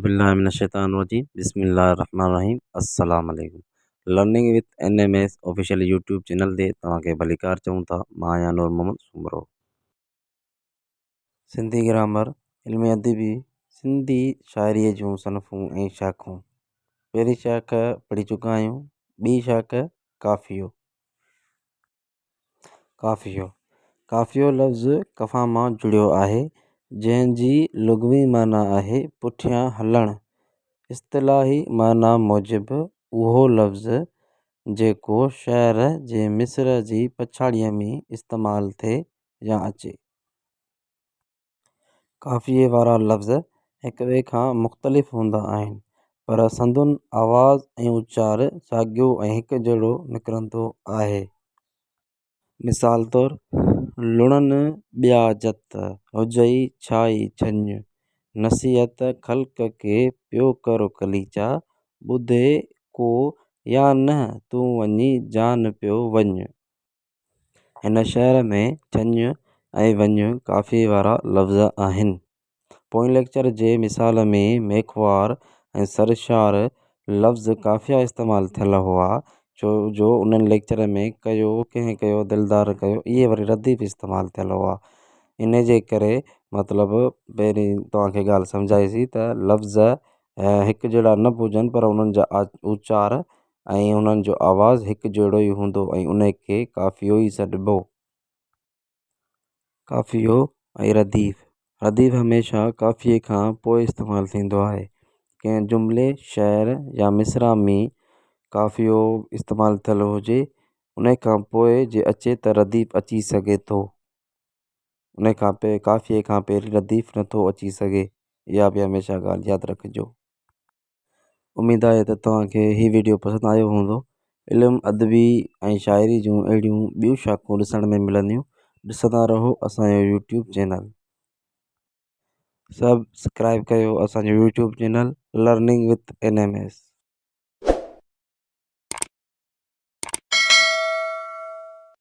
بالله من الشيطان الرجيم بسم الله الرحمن الرحيم السلام عليكم learning with N M S official YouTube channel تي توهان کي ڀليڪار چئون ٿا مان آهيان نور محمد سومرو سنڌي گرامر علم ادبي سنڌي شاعريء جون صنفون ۽ شاخون پهرين شاخ پڙهي چڪا آهيون ٻي شاخ ڪافيو ڪافيو ڪافيو لفظ ڪفا مان جڙيو آهي جنهنجي لغوي معنيٰ آهي پٺيان هلڻ اصطلاحي معنيٰ موجب اهو لفظ جيڪو شعر جي مصرع جي پڇاڙيء ۾ استعمال ٿئي يا اچي قافيي وارا لفظ هڪ ٻئي کان مختلف هوندا آهن پر سندن آواز ۽ اچار ساڳيو ۽ هڪ جهڙو نڪرندو آهي مثال طور لڻن ٻيا جت هجئي ڇائي ڇڃ نصيحت خلق کي پيو ڪر قليچا ٻڌي ڪو يا نه تون وڃي جان پيو وڃ هن شعر ۾ چڃ ۽ وڃ قافيي وارا لفظ آهن پوئين ليڪچر جي مثال ۾ ميخوار ۽ سرشار لفظ قافيا استعمال ٿيل هئا ڇو جو انهن ليڪچر ۾ ڪيو ڪنهن ڪيو دلدار ڪيو اهي وري رديف استعمال ٿيل هئا ان جي ڪري مطلب پهرين توهانکي ڳالهه سمجهايسي ته لفظ هڪ جهڙا نه به هجن پر انهن جا اچار ۽ انهن جو آواز هڪ جهڙو ئي هوندو ۽ ان کي قافيو ئي سڏبو. قافيو ۽ رديف، رديف هميشه قافيي کان پوء استعمال ٿيندو آهي. ڪنهن جملي، شعر يا مصرع ۾ قافيو استعمال ٿيل هجي ان کان پوء جي اچي ته رديف اچي سگهي ٿو. ان کان پي قافيي کان پهرين رديف نٿو اچي سگهي. اها به هميشه ڳالهه ياد رکجو. اميد آهي ته توهان کي هي وڊيو پسند آيو هوندو علم ادبي ۽ شاعري جون اهڙيون ٻيون شاخون ڏسڻ ۾ ملنديون ڏسندا رهو اسان جو يوٽيوب چينل سبسڪرائب ڪيو اسان جو YouTube channel learning with N M S